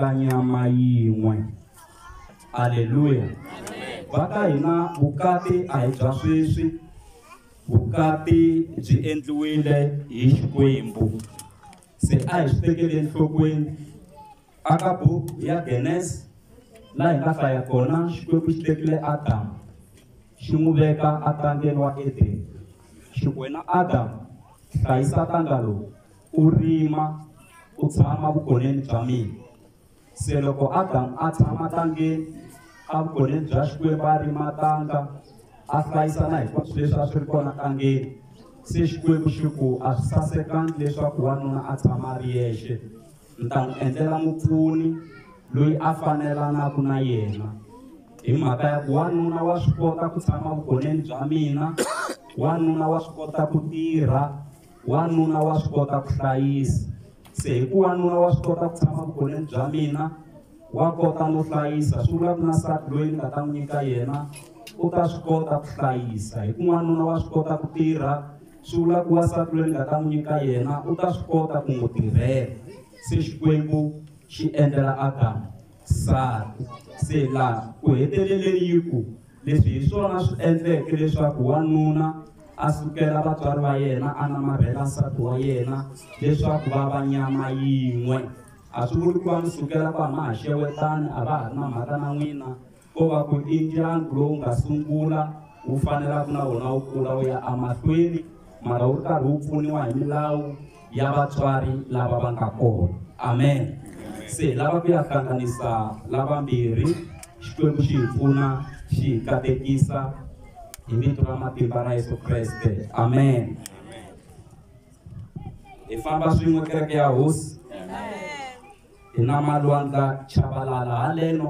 ka nyama yin'we aleluya va ka hina vukati a hi bya sweswi vukati byi endliwile hi xikwembu se a hi swi tekele enhlokweni aka buku ya genes laha hi nga hlaya kona xikwembu xi tekile adamu xi n'wi veka atangeni wa edeni xi wena adamu hlayisa tanga lowu u rima u tshama vukoneni bya mina se loko adamu a tshama tangeni a vukoneni bya xikwembu a rima tanga a hlayisa na hinkwaswo leswi a swi ri kona tangeni se xikwembu xi ku a swi sasekangi leswaku wanuna a tshama a ri yexe ni ta n'wi endlela mupfuni loyi a fanelanaku na yena hi mhaka ya ku wanuna wa swi kota ku tshama vugoneni bya mina wanuna wa swi kota ku tirha wanuna wa swi kota ku hlayisa se hi ku wanuna wa swi kota ku tshama vugoneni bya mina wa kota no hlayisa swi vula ku na nsati loyi ni nga ta n'wi nyika yena u ta swi kota ku hlayisa hi ku n'wanuna wa swi kota ku tirha swi vula ku wasati loyi ni nga ta n'wi nyika yena u ta swi kota ku n'wi tirhela se xikwembu xi endlela adamu nsati se laha ku heteleleni yi ku Leswi hi swona swi endleke leswaku wanuna a sukela vatswari va yena a namarhela nsati wa yena leswaku va va nyama yin'we a swi vuli ku va mi sukela ku hama ha xewetani a va ha ri na mhaka na n'wina ko va ku i ndyangu lowu nga sungula wu fanelaka na wona wu kula wu ya emahlweni mara wu ri karhi wu pfuniwa hi milawu ya vatswari lava va nga kona amen se lava ku ya hlanganisa lavambirhi xikwembu xi hi pfuna xi hi katekisa hi vito ra matimba ra yesu kreste amen hi famba swin'we kereke ya hosi hi na malwandla chavalala haleno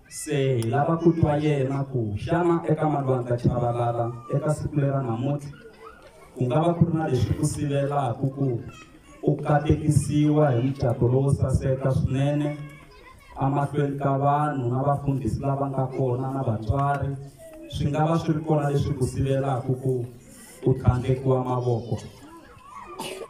se hi lava ku twa yena ku xana eka malwandla chavalala eka siku lera namuntlha ku nga va ku ri na leswi ku sivelaka ku u katekisiwa hi mucato lowo saseka swinene emahlweni ka vanhu na vafundhisi lava nga kona na vatswari swi nga va swi ri kona leswi ku sivelaka ku u tlhandlekiwa mavoko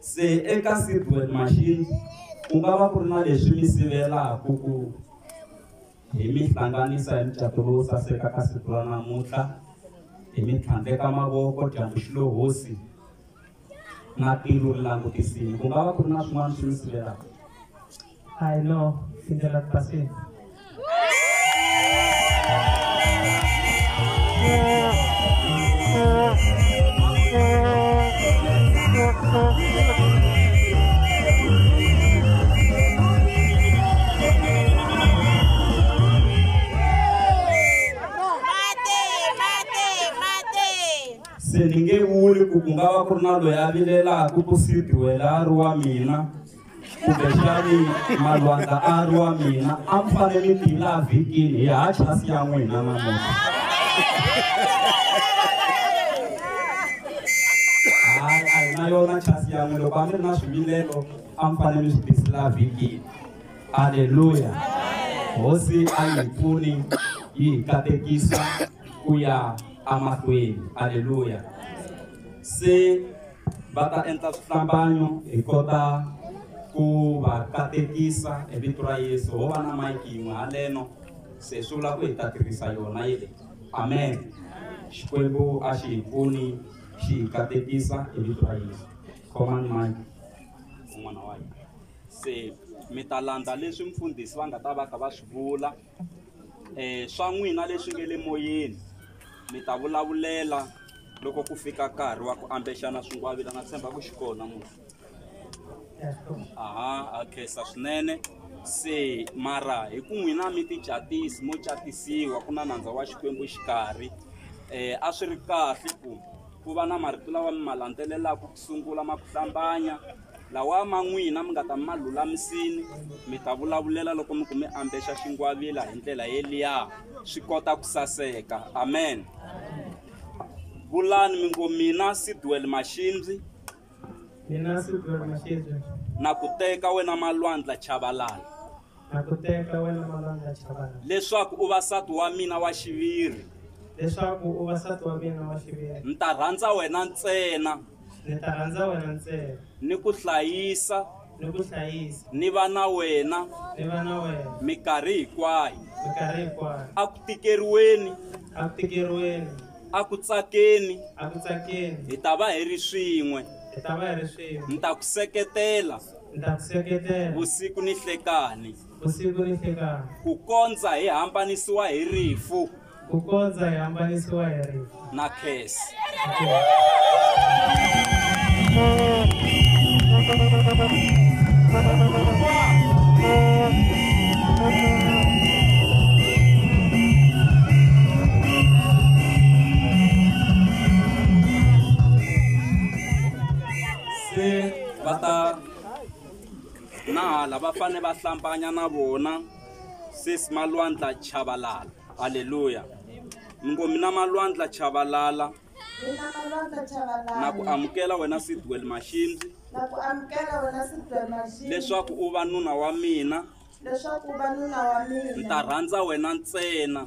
Se eka seedwet machine ku nga va ku ri na leswi mi sivelaka ku hi mi hlanganisa hi mucato lowu saseka ka siku ra namuntlha hi mi tlhandleka mavoko dyambu xi lo hosi na tilo ri langutisile ku nga va ku ri na swin'wana swi mi sivelaka I know c'est de la passé. se ni nge vuli ku ku nga va ku ri na loyi a vilelaka ku sidiwela a ri wa mina kumbexani malwandla a ri wa mina a mi fanele mi tivila vhikini hi ha chasi ya n'wina namuntlha hayi a hi na yona chasi ya n'wina loko a mi ri na swivilelo a mi fanele mi swi tisela vhikini aleluya hosi a yi pfuni yi hi katekisa ku ya amahlweni aleluya se va ta endla swihlambanyo hi kota ku va katekisa hi vito ra yesu ho va na mayiki yin'we haleno se swi vula ku hi ta tirhisa yona yi leyi amen xikwembu a xi hi pfuni xi hi katekisa hi vito ra yesu command mind un'wana wa hina se mi ta landza leswi mfundhisi va nga ta va ka va swi vula um swa n'wina leswi nge le moyeni mi ta vulavulela loko ku fika nkarhi wa ku ambexana swingwavila na tshemba ku xi kona munhu aha a khensa swinene se mara hi ku n'wina mi ticatisi mo catisiwa ku na nandza wa xikwembu xikarhi um a swi ri kahle ku ku va na marito lawa mi ma landzelelaka ku sungula ma ku hlambanya lawa ma n'wina mi nga ta ma lulamisini mi ta vulavulela loko mi ku mi ambexa xingwavila hi ndlela yeliya swi kota ku saseka amen vulani mi ngo mina sidwel maxindzi Mina siku la mashezi na ku teka wena malwandla chavalala na ku teka wena malwandla chavana leswaku u va sati wa mina wa xiviri leswaku u va sati wa mina wa xiviri ni ta rhandza wena ntsena ni ta rhandza wena ntsena ni ku hlayisa ni ku hlayisa ni va na wena ni va na wena mikarhi hinkwayo mikarhi hinkwayo a ku tikeriweni a ku tikeriweni a ku tsakeni a ku tsakeni hi ta va hi ri swin'we hi ta va hi ri swin'we ni ta ku seketela ni ta ku seketela vusiku ni hlekani vusiku ni hlekani ku kondza hi hambanisiwa hi rifu ku kondza hi hambanisiwa hi rifu na khesi se va ta na hala va fane va hlambanya na vona sesi malwandla chavalala haleluya mi ngo mina malwandla chavalala Mina malwandla chavalala. na ku amukela wena sidwel maxindzi Na ku amukela wena Sidwell Mashini. leswaku u va nuna wa mina Leswaku u va nuna wa mina. ni ta rhandza wena ntsena